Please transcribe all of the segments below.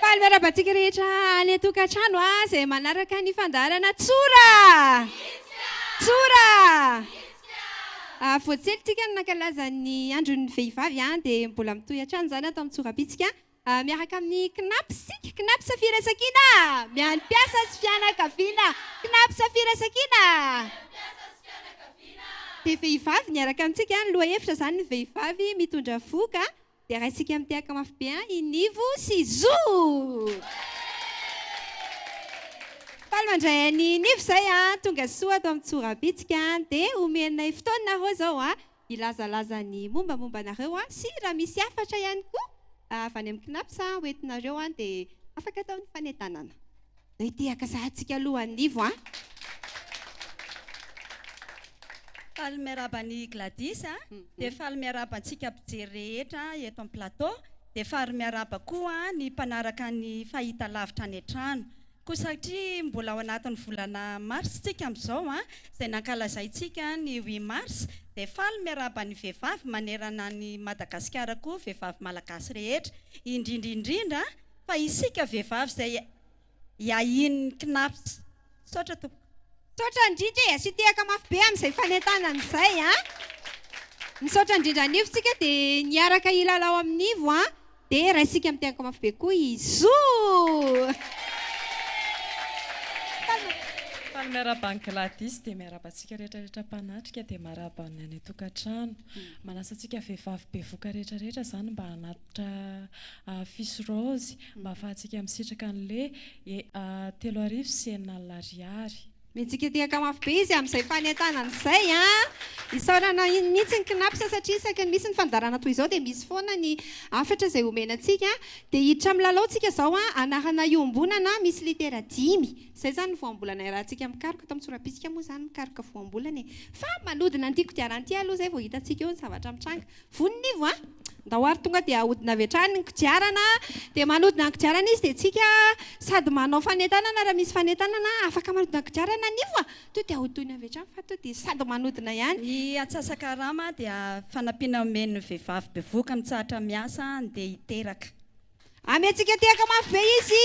Faly miarahaba antsika rehetra any an-tokantrano izay manaraka ny fandaharana Tsora! Tsora! Vao tsely tsika no nankalaza ny andron'ny vehivavy dia mbola mitohy hatrany izany ato amin'ny Tsorabitsika miaraka amin'ny Cnaps isika, Cnaps Firaisankina ny an'ny mpiasa sy fianakaviana, Cnaps Firaisankina dia vehivavy miaraka amintsika ny lohahevitra izany ny vehivavy mitondra fo ka Dia raisika mitehaka mafy be an i Nivo sy Zo! Faly mandray an'i Nivo izay a! Tonga soa ato amin'ny Tsorabitsika dia homenay fotoana nareo izao a! Hilazalaza ny mombamomba anareo a! Sy raha misy hafatra ihany koa avy any amin'ny Cnaps hoentinareo dia afaka atao ny fanentanana. Zay te haka saha tsika aloha anivo a. Faly miarahaba an'i Gladys a, dia faly miarahaba antsika mpijery rehetra eto amin'ny plateau, dia faly miarahaba koa ny mpanaraka ny fahitalavitra any an-trano. Koa satria mbola ao anatin'ny volana mars tsika amin'izao a, izay nankalazaintsika ny huit mars, dia faly miarahaba ny vehivavy manerana an'i Madagasikara koa, vehivavy malagasy rehetra, indrindra indrindra, Fa isika vehivavy izay iahian'ny cnaps. Misaotra tompoko. Misaotra indrindra e, asia tehaka mafy be amin'izay fanentanana izay an! Misaotra indrindra anivo tsika dia ny hiaraka hilalao aminivo an! Dia raisika amin'ny tehaka mafy be koa izoo! Faly miarahaba an'i Gladys dia miarahaba antsika rehetra rehetra mpanatrika dia marahaba ny any an-tokantrano. Manasa antsika vehivavy bevoka rehetra rehetra izany mba hanatona. Dra Fils Rose mba afahantsika misitraka anle telo arivo sy enina alina ariary. Mihetsiketehaka mafy be izy amin'izay fanentanana izay a! Isaorana mihitsy ny Cnaps satria isaky ny misy ny fandaharana toy izao dia misy foana ny hafatra izay omena antsika. Dia hiditra amin'ny lalao tsika izao a! Anarana iombonana misy litera dimy. Izay izany ny voambolana iarahantsika mikaroka. Eto amin'ny sora-bitsika moa izany mikaroka voambolana e! Fa manodina an'ity kodiarana ity aloha izay vao hitantsika eo ny zavatra mitranga. Voninivo a! Ndao ary tonga dia ahodina avy hatrany ny kodiarana dia manodina ny kodiarana izy dia tsika sady manao fanentanana raha misy fanentanana afaka manodina ny kodiarana Nivo a! Tonga dia ahodoina avy hatrany fa tonga dia sady manodina ihany. Ny atsasakarama dia fanampiana omen'ny vehivavy bevohoka mitsahatra miasa handeha hiteraka. Amiantsika tehaka mafy be izy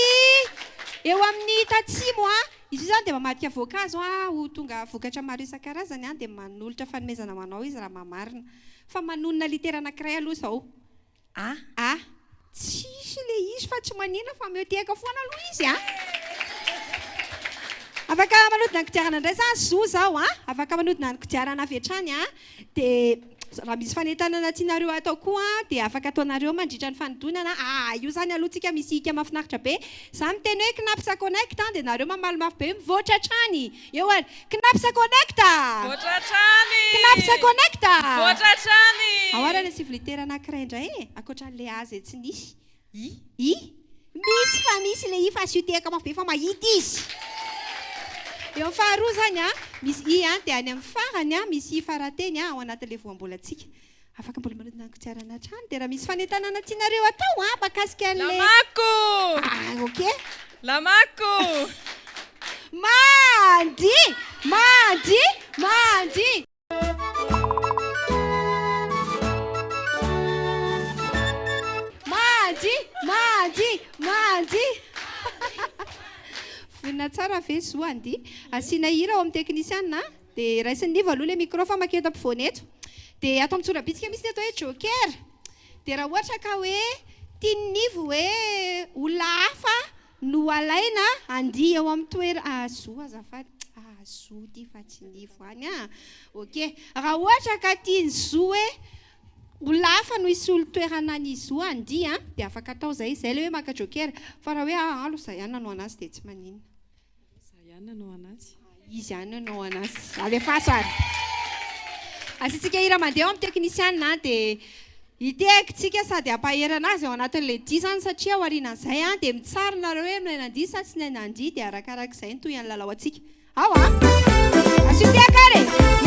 eo amin'ny tatsimo a! Izy io izany dia mamadika voankazo a, ho tonga vokatra maro isan-karazany a, dia manolotra fanomezana ho anao izy raha mahamarina. Fa manonona litera anankiray aloha izao a! a! Tsisy ilay izy fa tsy manina fa ameo tehaka foana aloha izy a! Afaka manodina ny kodiarana indray za zo izao a! Afaka manodina ny kodiarana avy hatrany a! Dia raha misy fanentanana tianareo hatao koa dia afaka ataonareo mandritra ny fanodinana aa io zany aloha tsika misy hika mafinaritra be za miteny hoe knapsa connect dia nareo mamaly mafy be mivoatra hatrany eo ary knapsa connect knapsa connect ao ary any sivy litera anakiray indray e ankoatra anle a zay tsy nisy I, i, misy fa misy le i fa asio tehaka mafy be fa mahita izy. Eo amin'ny faharoa izany an, misy i an, dia any amin'ny farany an, misy i farateny an, ao anatin'ilay voambolantsika. Afaka mbola manodina ny kodiarana hatrany, dia raha misy fanentanana tianareo atao an, mahakasika an'ilay. Lamako! Ah, ok. Lamako! Mandy! Mandy! Mandy! Manji! Manji! Manji! Vonona tsara ve zo andy? Asiana hira ao amin'ny technician a! Dia raisin'i Nivo aloha ilay micro fa mankeo an-tapovoany eto. Dia ato amin'ny tsorabitsika misy ny atao hoe joker. Dia raha ohatra ka hoe tian'i Nivo hoe olona hafa no alaina andihy eo amin'ny toer a zo azafady a zo ity fa tsy ny ivo any a ok raha ohatra ka tia ny zo hoe olona hafa no hisolo toerana ny zo andihy a dia afaka atao izay izay ilay hoe maka joker fa raha hoe ahalo za ihany nanao anazy dia tsy maninona Iza ihany nanao an'azy? Iza ihany nanao an'azy? Alefaso ary. Asiantsika hira mandeha eo amin'ny teknisiana dia hitehaka isika sady hampahery an'azy ao anatin'ilay dihy izany satria aorianan'izay dia mitsara nareo hoe milay nandihy sa tsy milay nandihy dia arakarak'izay no tohin'ny lalao antsika. Ao a! Asio tehaka ary e!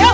Eo!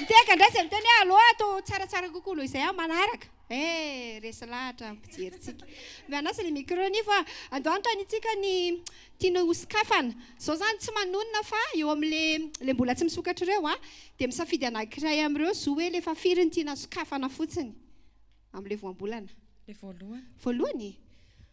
Mitehaka indray izay miteny hoe allo ato tsaratsara kokoa noho izay aho manaraka. Eh, resy lahatra ny mpijerintsika. Mianasa ny micro anie fa andao anontaniantsika ny tiana ho sokafana. Izao izany tsy manonona fa eo amin'ilay mbola tsy misokatra ireo an, dia misafidy anankiray amin'ireo zo hoe alefa firy ny tiana sokafana fotsiny amin'ilay voambolana. Ilay voalohany. Voalohany e?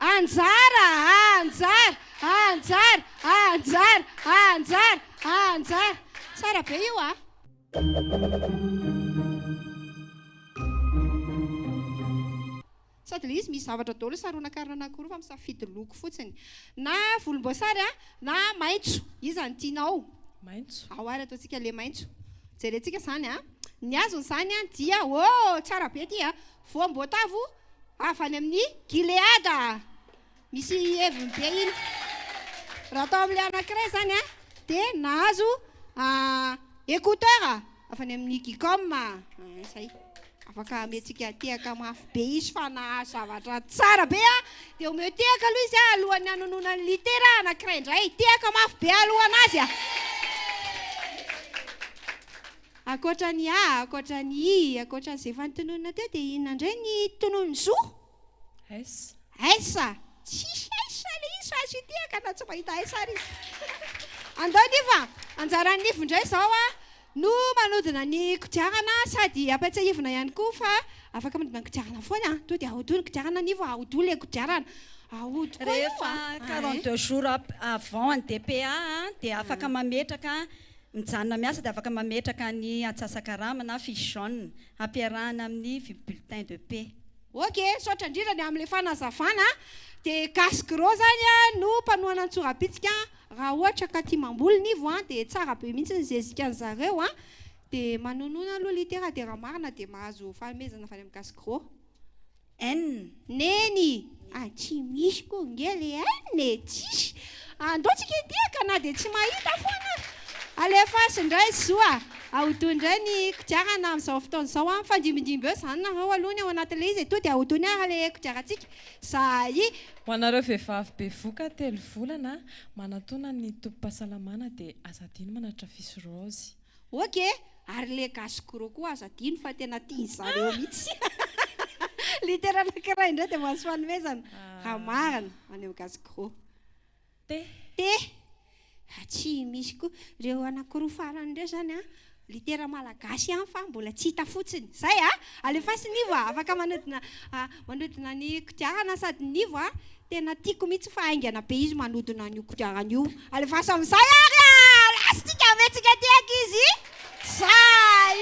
Anjara! Anjara! Anjara! Anjara! Anjara! Anjara! Tsara be io a! Sady le izy misy zavatra daholo saronan-karona anakiroa fa misafidy loko fotsiny. Na volomboasary a, na maitso. Iza no tianao? Maitso. Ao ary ataontsika le maitso. Jerentsika izany a. Ny azony izany dia, oh! Tsara be ity a! voam-boatavo avy any amin'i Gileada. Misy heviny be iny. Raha tao amin'ilay anankiray izany dia nahazo écouteur avy any amin'ny Gicom. Izay, afaka ameantsika tehaka mafy be izy fa nahazo zavatra tsara be. Dia omeo tehaka aloha izy alohan'ny hanonona ny litera anankiray indray. Tehaka mafy be aloha ho an'azy. Ankoatra ny A, ankoatra ny I, ankoatra an'izay efa notononina teo dia inona indray ny tonony zo? S. S, tsisy S ilay izy fa azo itiahaka na tsy mahita S ary izy. Andao ny iv a, anjaran'ny iv indray izao a, no manodina ny kodiarana sady ampiatsahivina ihany koa fa afaka manodina ny kodiarana foana a, tonga dia ahodoy ny kodiarana ny iv a, ahodoy ilay kodiarana, ahodoy koa io a. Rehefa quarante deux jours avant ny DPA dia afaka mametraka. Mijanona miasa dia afaka mametraka ny atsasa-karama na fiche jaune hampiarahana amin'ny bulletin de paie. Ok, misaotra indrindra ny amin'ilay fanazavana a! Dia Gasy Gros izany no mpanohana ny tsorabitsika raha ohatra ka tia mamboly ny voan dia tsara be mihitsy ny zezikan'ny zareo a! Dia manoanoana aloha litera dia raha marina dia mahazo fanomezana avy any amin'ny Gasy Gros. N. Neny, ah tsy misy koa nge le N e, tsisy. Andao tsika hidiaka na dia tsy mahita foana aza. Alefaso indray zo a! Ahodoy indray ny kodiarana amin'izao fotoana izao a! Mifandimbidimbby eo izany nareo aloha ny ao anatin'ilay izy e! Toa dia ahodoy ny ara le kodiarantsika. Zahai. Ho anareo vehivavy bevoka telo volana manatona ny tobim-pahasalamana dia aza adino manatitra fisoraozy. Ok, ary le gasy gros koa aza adino fa tena tiany zareo mitsy. Litera anakiray indray dia mahazo fanomezana. Raha marina, ho any amin'ny gasy gros. T. T. Fa tsy misy koa. Ireo anakiroa farany ireo izany an, litera malagasy ihany fa mbola tsy hita fotsiny. Izay an! Alefaso ny iva, afaka manodina Manodina ny kodiarana sady nivo a! Tena tiako mihitsy fa haingana be izy manodina an'io kodiarana io. Alefaso amin'izay ary a! Lastika vetsika aty ankizy zay!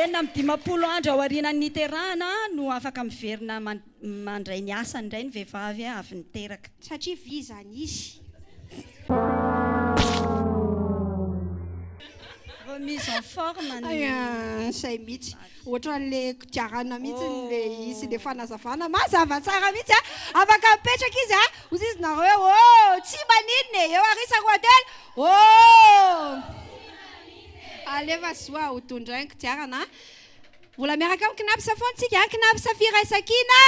Enina amby dimampolo andro aorianan'ny niterahana no afaka miverina mandray ny asany indray ny vehivavy avy niteraka. Satria vy izany izy. Remise en forme ny. Hay an! Sahy mihitsy. Ohatran'le kodiarana mihitsy le izy, le fanazavana mazava tsara mihitsy a! Afaka mipetraka izy a! Hozy izy nareo hoe oh! Tsy maninona e! Eo arisa roa telo oh! Alefa zo a! Ho tondrainy ny kodiarana a! Mbola miaraka amin'ny Cnaps foana tsika a! Cnaps Firaisankina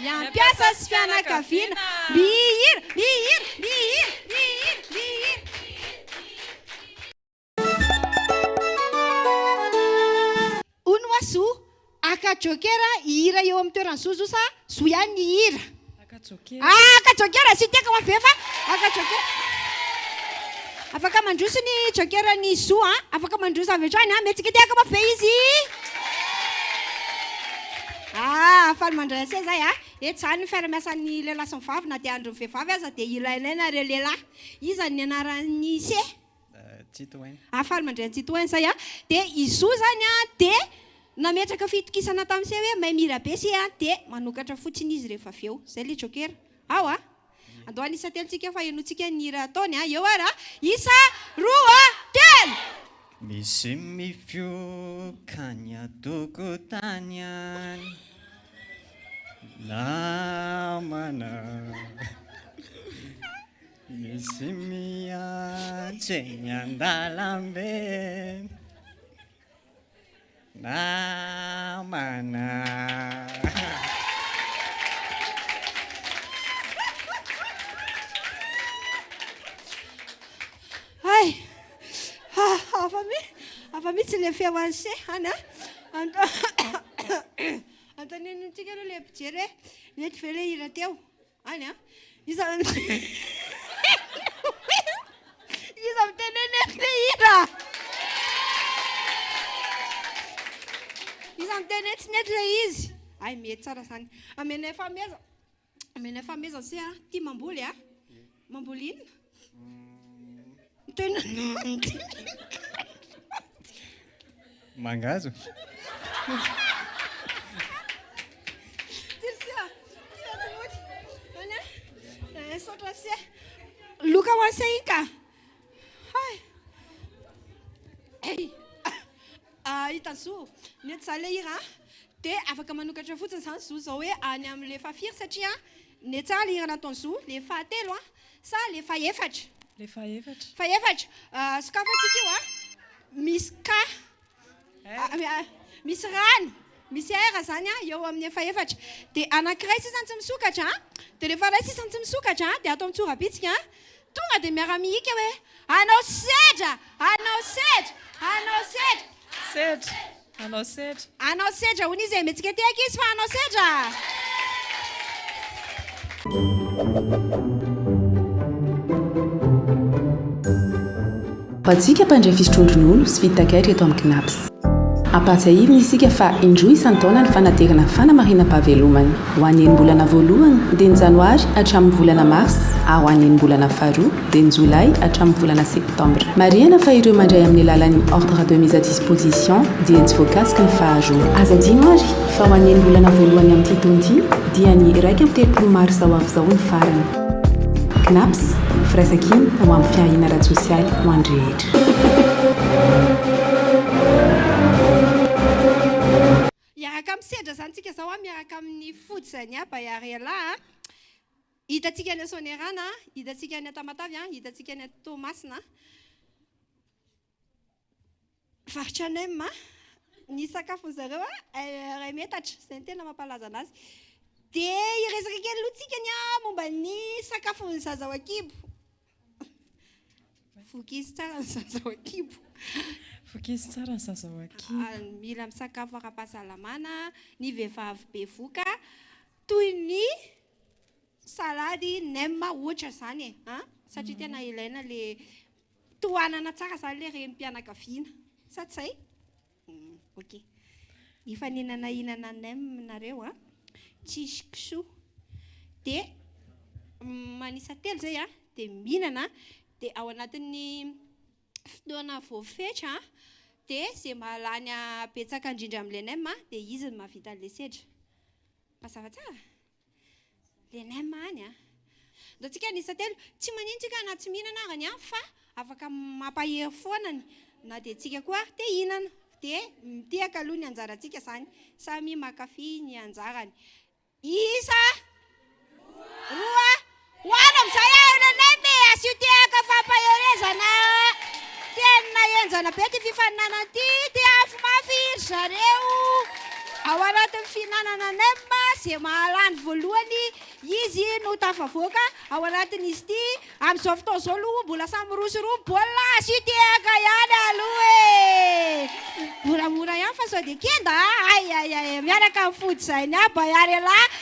miampiasa sy fianakaviana mihira! Mihira! Mihira! Mihira! Mihira! Hono wa zo? Aka jokera hihira eo amin'ny toeran'i zo zo sa zo ihany ny hihira? Aka jokera. Ah, aka jokera sy tiako wa ve fa aka jokera. Afaka mandroso ny jokera ny zo a. Afaka mandroso avy hatrany a. Mihetsika ity aka wa ve izy? Ah, faly mandray anse zahay a. Eto zany ny fiara-miasan'ny lehilahy sy ny vavy na dia andron'ny vehivavy aza dia ilainay nareo lehilahy. Iza ny anaran'ny ise? Citroën. Ah, faly mandray an'i Citroën zay an! Dia i Zo zany an, dia nametraka fitokisana tamin'i Seh hoe mahay mihira be Seh an, dia manokatra fotsiny izy rehefa avy eo. Zay le Joker. Ao an! Andao hanisa telo tsika fa henointsika ny hira ataony an! Eo ary an! Isa, roa, telo! Misy mifoka any an-tokotany any namana. Misy miantso eny an-dalambe Namana Hay! Ha! Hafa mi, hafa mihitsy ilay feo an'i Che any a! Anto- Antonino antsika aloha ilay mpijery hoe mety ve ilay hira teo? Any an! Iza Iza miteny hoe mety be hira? Iza miteny hoe tsy nety ilay izy? Hay mety tsara izany. Amenay fahomezana. Amenay fahomezana se a. Tia mamboly a? Mamboly inona? Tena Mangazo. Loka ho ase iny ka. Hay. Hey. Ah, hita zo. Mety za le hira. De afaka manokatra fotsiny zany zo zao hoe any amle faha firy satria netsà le hira nataony zo le fahatelo a. Sa le fahefatra? Le fahefatra. Fahefatra. Sokafantsika io a. Misy K. Misy rano. Misy R zany a eo amin'ny fahefatra. Dia anankiray sisa tsy misokatra a. Dia rehefa iray sisa tsy misokatra dia ato amin'ny tsorabitsika a. Tonga dia miara-mihika hoe, Hanao sedra! Hanao sedra! Hanao sedra! Sedra. Hanao sedra. Hanao sedra hoy izy e, mihetsika ety ankizy fa hanao sedra Bajika mpandray fisotroan-dronono sy vidin-takaitra eto amin'ny Cnaps. Ampahatsiahivina isika fa indroa isan-taona ny fanaterana ny fanamarinam-pahavelomana. Ho an'ny enim-bolana voalohany, dia ny Janoary hatramin'ny volana Marsa, ary ho an'ny enim-bolana faharoa, dia ny Jolay hatramin'ny volana Septambra. Marihana fa ireo mandray amin'ny alalan'ny Ordre de mise à disposition dia tsy voakasiky ny faharoa. Aza adino ary fa ho an'ny enim-bolana voalohany amin'ity taona ity dia ny iraika amby telopolo marsa ho avy izao ny farany. Cnaps, Firaisankina ho amin'ny fiahiana ara-tsosialy ho an'ny rehetra. Hiaraka misedra izany tsika izao miaraka amin'ny Fojy Zainiaba Yariela a! Hitantsika any Soanierana, hitantsika any Tamatave, hitantsika any Toamasina. Varotra nem ny sakafon-dry zareo ray metatra, izay no tena mampalaza anazy. Dia hiresaka kely aloha tsika ny momba ny sakafon-dry zaza ao an-kibo. Vokizy tsara ny zaza ao an-kibo. Vokizy tsara ny zaza ao an-kibo. Mila misakafo ara-pahasalamana ny vehivavy bevoka toy ny salady, nem ohatra izany e! satria tena ilaina ilay tohanana tsara izany ilay renim-pianakaviana. Sa tsy izay? Ok. Hifaninana hinana nem nareo a. Tsisy kisoa. Dia manisa telo izay a, dia mihinana. Dia ao anatin'ny fotoana voafetra dia izay mahalany habetsaka indrindra amin'ilay nem dia izy no mahavita an'ilay sedra. Mazava tsara? Le nem any a. Ataontsika ny isa telo. Tsy manin tsika na tsy mihinana aza ny hafa fa afaka mampahery foana ny na dia tsika koa ary te hihinana. Dia mitiaka aloha ny anjarantsika izany. Samy makafy ny anjarany. Isa roa Ho any amin'izay aho nenay me a Tsy tehaka fampaherezana Tena henjana be ity fifaninanana ity Te hafy mafy ry zareo Ao anatin'ny fihinanana nem a Izay mahalany voalohany izy no tafavoaka ao anatin'izy ity Amin'izao fotoana izao aloha mbola samy mirosoroa ny baolina a Tsy tehaka ihany aloha e Moramora ihany fa sao dia kenda a Ay ay ay miaraka amin'ny fody izay ny ahy Baiarelah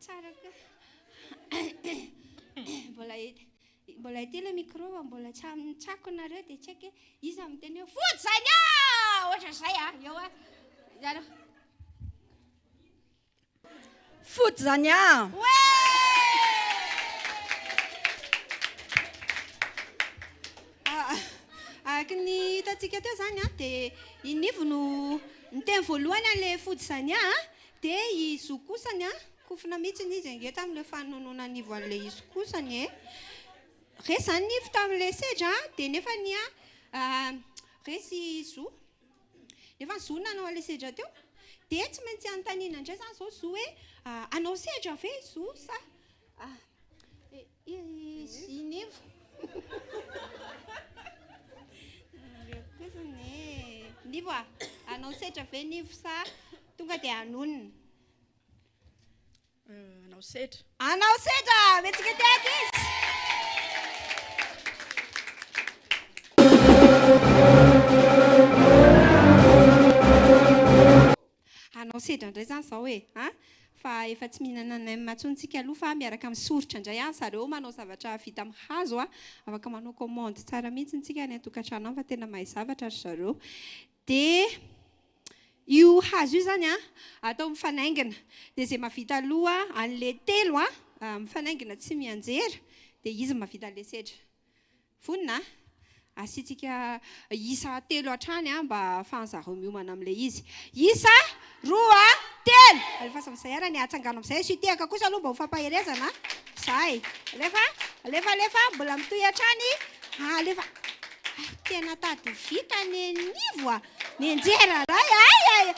Tsara ka. Mbola et mbola ety ilay micro a, mbola tsy amin'ny tsako nareo dia tsy haiko hoe iza no miteny hoe fody izany a! Ohatra izay a, eo a. Ianareo. Fody izany a! Oe! Ah, araka ny hitantsika teo izany a, dia i Nivo no niteny voalohany an'ilay fody izany a. Dia i Zo kosa ny an! kofona mihitsiny izy ange tamin'ilay fanononona ny ivo an'ilay izy kosa ny e! resy izany ny ivo tamin'ilay sedra an! dia nefa ny an! resy i Zo nefa ny Zo no nanao an'ilay sedra teo dia tsy maintsy anontaniana indray izany izao Zo hoe hanao sedra ve i Zo sa Izy nefa. Nivo a, hanao setra ve Nivo sa tonga dia hanonona? Hanao setra. Hanao setra, metsika ty ankizy. Hanao sedra indray izany izao e! a! Fa efa tsy mihinana nem intsony tsika aloha fa miaraka amin'ny soritra indray any zareo manao zavatra vita amin'ny hazo a! Afaka manao commande tsara mihitsy tsika any an-tokantrano any fa tena mahay zavatra ry zareo. Dia io hazo io izany a! atao mifanaingina. Dia izay mahavita aloha an'ilay telo a! mifanaingina tsy mianjera dia izy no mahavita an'ilay sedra. Vonona a! Asiantsika isa telo hatrany mba ahafahan'ny zareo miomana amin'ilay izy. Isa, roa, telo! Alefaso amin'izay ary anie, atsangano amin'izay. Asio tehaka kosa aloha mba ho fampaherezana a! Zay. Alefa, alefa, alefa, mbola mitohy hatrany. Alefa. Hay tena tady vita ny an'ivo a! Nenjera ray ay ay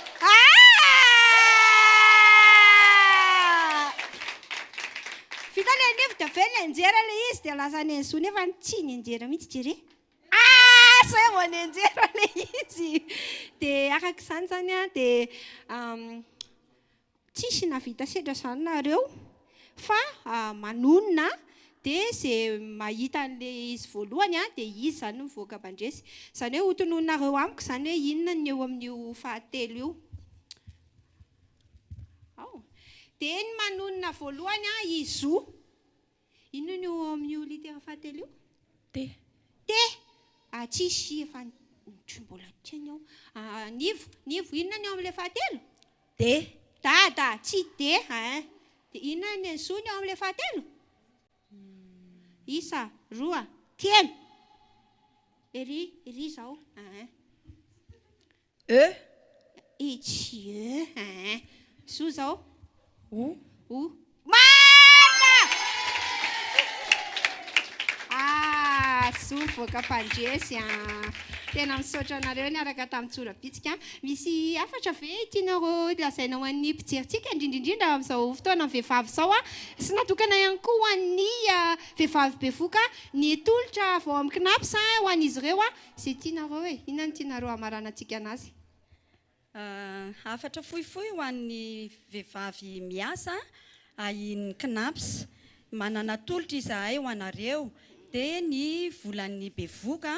Vita le nevo de avy nenjera le izy de lasa nenzo nefa tsy nenjera mihitsy jere Ah zay vao nenjera le izy de araka izany zany a de Tsisy navita sedra zany nareo fa manonona dia ze mahita anle izy voalohany dia izy zany mivoaka mandresy zany hoe hotononinareo amiko zany hoe inona ny eo amin'io fahatelo io ao dia ny manonona voalohany izo Inona no ao amin'io litera fahatelo io? T. T! Ah, tsisy, efa tsy mbola teny aho. Ah, Nivo, Nivo, inona ny ao amin'ilay fahatelo? D. Dada, tsy D hein. Dia inona ny zo ny ao amin'ilay fahatelo? Isa, roa, telo. Ery, ery izao, hein. E. Itsy e. Aa. Soa zao. O. O. Marina! Ah, soa voaka mpandresy a. Tena misaotra anareo niaraka tamin'ny Tsorabitsika. Misy hafatra ve tianareo lazaina ho an'ny mpijerintsika, indrindra indrindra amin'izao fotoanan'ny vehivavy izao a? Sy natokana ihany koa ho an'ny vehivavy bevoka, ny tolotra vao amin'ny Cnaps ho an'izy ireo a. Izay tianareo e! Inona no tianareo hamaranantsika anazy? Hafatra fohifohy ho an'ny vehivavy miasa ahian'ny Cnaps. Manana tolotra izahay ho anareo, dia ny volan'ny bevoka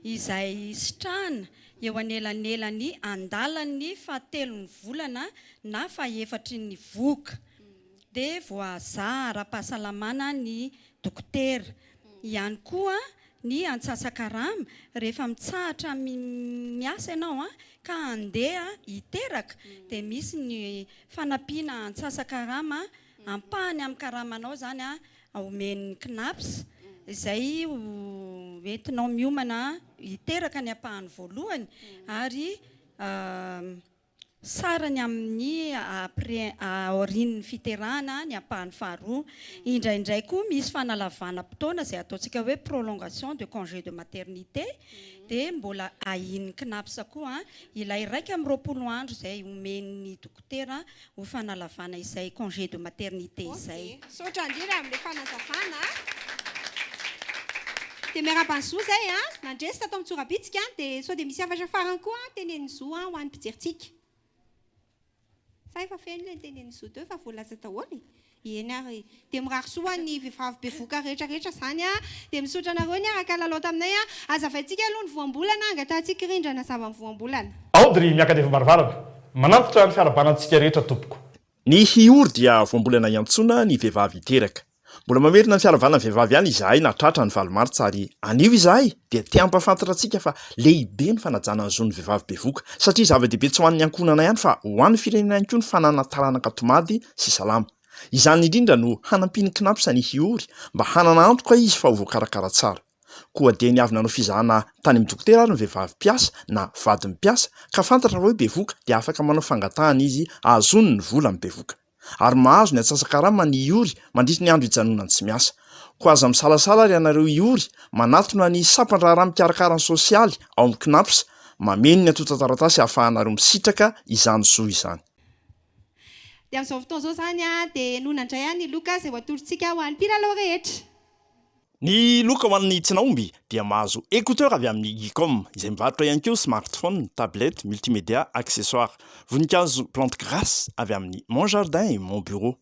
izay sitrahana eo anelanelan'ny andalan'ny fahatelon'ny volana na fahefatry ny vohoka, dia voahazaha ara-pahasalamana ny dokotera ihany koa ny antsasakarama rehefa mitsahatra miasa ianao ka handeha hiteraka dia misy ny fanampiana antsasakarama ampahany amin'ny karamanao izany omen'ny Cnaps izay ho entinao miomana hiteraka ny ampahany voalohany ary Tsara ny amin'ny aorian'ny fiterahana ny ampahany faharoa. Indraindray koa misy fanalavanam-potoana izay ataontsika hoe prolongation de congé de maternité dia mbola ahian'ny Cnaps koa ilay iraika amby roapolo andro izay omen'ny dokotera ho fanalavana izay congé de maternité izay. Misaotra indrindra amin'ilay fanazavana a. Dia miarahaba an'i Zo izay a. Nandresy tato amin'ny tsorabitsika dia sao dia misy hafatra farany koa tenenin'i Zo ho an'ny mpijerintsika. Sa efa feno ilay nitenenin'i Zo teo efa voalaza daholo e? Eny ary. Dia mirary soa ho an'ny vehivavy bevoka rehetra rehetra izany a. Dia misaotra anareo niaraka lalao taminay a. Hazavaintsika aloha ny voambolana hangatahantsika rindra nazava ny voambolana. Audrey miaka any efa-baravarana. Manantitra ny fiarahabana antsika rehetra tompoko. Ny hihory dia vao mbola naiantsoana ny vehivavy hiteraka. Mbola mamerina ny fiaravanan'ny vehivavy ihany izahay na tratra ny valo martsa ary anio izahay dia te hampahafantatra antsika fa lehibe ny fanajana ny zon'ny vehivavy bevoka satria zava-dehibe tsy ho an'ny ankohonana ihany fa ho an'ny firenena ihany koa ny fananana taranaka tomady sy salama. Izany indrindra no hanampian'ny Cnaps ny hihory mba hanana antoka izy fa ho voakarakara tsara. Koa dia niavy nanao fizahana tany amin'ny dokotera ary ny vehivavy mpiasa na vadin'ny mpiasa ka fantatra fa hoe bevoka dia afaka manao fangatahana izy hahazoany ny vola amin'ny bevoka ary mahazo ny antsasa-karama ny hiory mandritry ny andro hijanonany tsy miasa. Koa aza misalasala ary ianareo hiory manatona ny sampan-draharaha mikarakara ny sosialy ao amin'ny Cnaps mameno ny antontan-taratasy hahafahanareo misitraka izany zo izany. Dia amin'izao fotoana izao izany dia nona indray ahy ny loka izay ho atorontsika ho an'ny mpilalao rehetra. Ny loka ho an'ny tsinahomby dia mahazo écouteurs avy amin'ny Geekom, izay mivarotra ihany koa smartphones, tablettes, multimédia, accessoires. Voninkazo plantes grasses avy amin'ny Mon Jardin et Mon Bureau.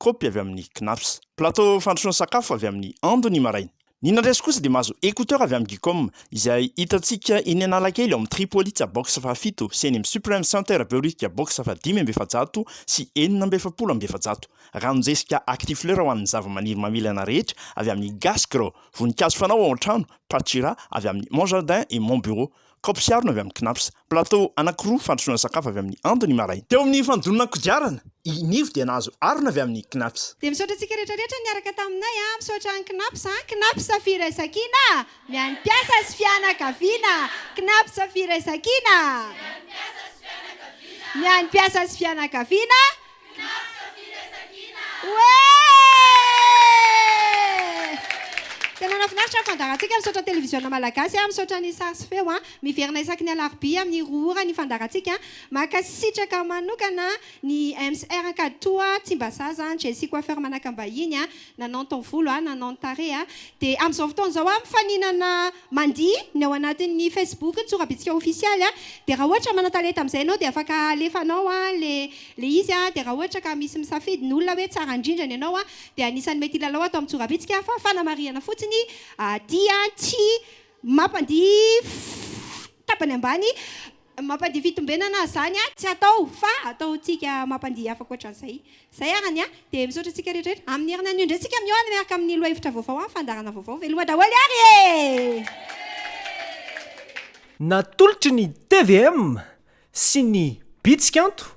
Kaopy avy amin'ny Knaps. Plateau fandrosoana sakafo avy amin'ny Ando ny maraina. Ny nandresy kosa dia mahazo écouteurs avy amin'ny Geekom, izay hitantsika eny Analakely ao amin'ny Tripolitsa box fahafito sy eny amin'ny Supreme Center Behoririka box fahadimy amby efajato sy enina amby efapolo amby efajato. Ranonjesika Actifleur ho an'ny zavamaniry mamilana rehetra avy amin'ny Gascro, Voninkazo fanao ao an-trano, Pachira avy amin'ny Mon Jardin et Mon Bureau, Kaopy sy harona avy amin'ny Cnaps, Plateau anankiroa fandrosoana sakafo avy amin'ny Ando ny maraina. Teo amin'ny fandonana kodiarana, i Nivo dia nahazo harona avy amin'ny Cnaps. Dia misaotra antsika rehetra rehetra niaraka taminay an! Misaotra an'i Cnaps an! Cnaps Firaisankina ny an'ny mpiasa sy fianakaviana! Cnaps Firaisankina ny an'ny mpiasa sy fianakaviana! Finaritra firesakina! Oe! Tena nafinaritra ny fandaharantsika. Misaotra ny televiziona malagasy, misaotra ny sary sy feo. Miverina isaky ny alarobia amin'ny roa ora ny fandaharantsika. Mankasitraka manokana ny MCR Ankaditoha, Tsimbazaza, Jessie Coiffeur Manakambahiny, nanao ny taovolo, nanao ny tarehy. Dia amin'izao fotoana izao mifaninana. Mandihy ny ao anatin'ny Facebook ny tsorabitsika ofisialy a, dia raha ohatra manan-talenta amin'izay ianao dia afaka alefanao ilay izy a, dia raha ohatra ka misy misafidy ny olona hoe tsara indrindra ny anao a, dia anisan'ny mety hilalao ato amin'ny tsorabitsika fa fanamarihana fotsiny dia tsy mampandihy tapany ambany Mampandihy fitombenana aza zany a, tsy atao fa ataontsika mampandihy hafa ankoatran'izay. Zay ary ny ahy, dia misaotra antsika rehetrarehetra. Amin'ny herinandro anio indray tsika miohana miaraka amin'ny lohahevitra vaovao amin'ny fandaharana vaovao. Veloma daholo ary e! Natolotry ny tvm sy ny Bitsy Kanto